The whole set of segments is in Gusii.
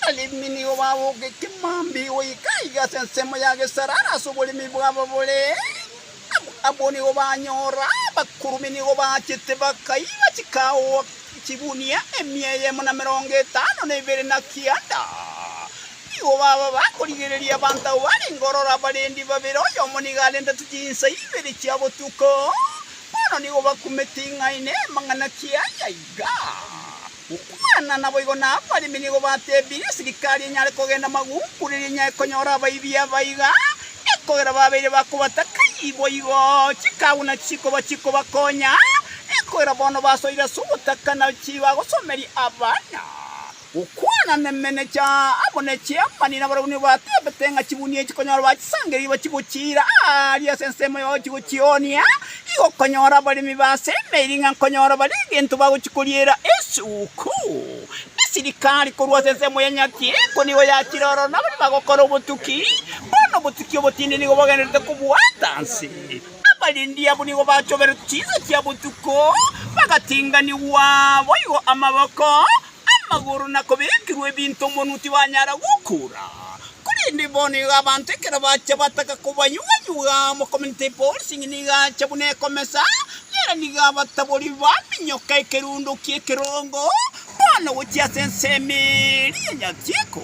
Abaremi nigo babogete mambia igoika iga ase ensemo ya Gesarara ase oboremi bwabo bore amo. Abwo nigo banyora abakurubi nigo baachete bakaiga chikagoa chigunia emia eyemo na emerongo etano na ebere na kianda. Nigo baba bakorigereria abanto abwo barenge ororo abarendi babere, oyomo nigo arendete chinsa ibere chia botuko. Bono nigo bakumete ing'aini, amang'ana ki aya iga? Gokwana naboigo nabaremi nigo batebirie esirikari enyare kogenda maguunku riria enyare konyora abaibi aba iga, ekogera babeire bakobataka ii boigo chikaaguna chikoba chikobakonya, ekogera bono basoire ase ogotaka na chibagosomeria abana. Gokwana nemenecha amo ne chiamani nabarabani batebete ng'a chibuni echi konyora bachisangereiri bachigochiira aaria ase ensemo yao chigochionia, Tigokonyora abaremi b'aase emeeri ng'a nkonyora bare egento bagochia koriera esuku. Esirikari korwa ase ensemo ya Nyati Engo nigo yakire oro nabare bagokora obotuki. Bono obotuki obotindi nigo bogendererete kobwata nse. Abarendi abwo nigo bachoberetwe chinsa chia botuko, bagatinganigwa boigo amaboko, Amagoro na kobekirwa ebinto omonwa tibanyara gokora, korende bono iga abanto ekero bachia bataka kobanyuga-nyuga, mokomenta epolicing nigo acha buna ekomesa, ere nigo abatabori baminyoka ekerundo ki'ekerongo, bono gochia ase ensemo eria ya nyachiiko.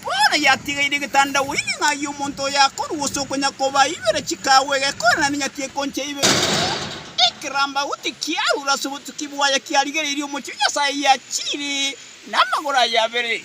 Bono yatigeire egetanda gweine ng'ai y'omonto oyo akorua gose okonyakoba ibere chikaagwa egekora na nenyati ekoncha ibere. Ekerambagu tikiarure ase obotuki bwaye kiarigereirie omochie o Nyasae yachiire namagoro aye abere.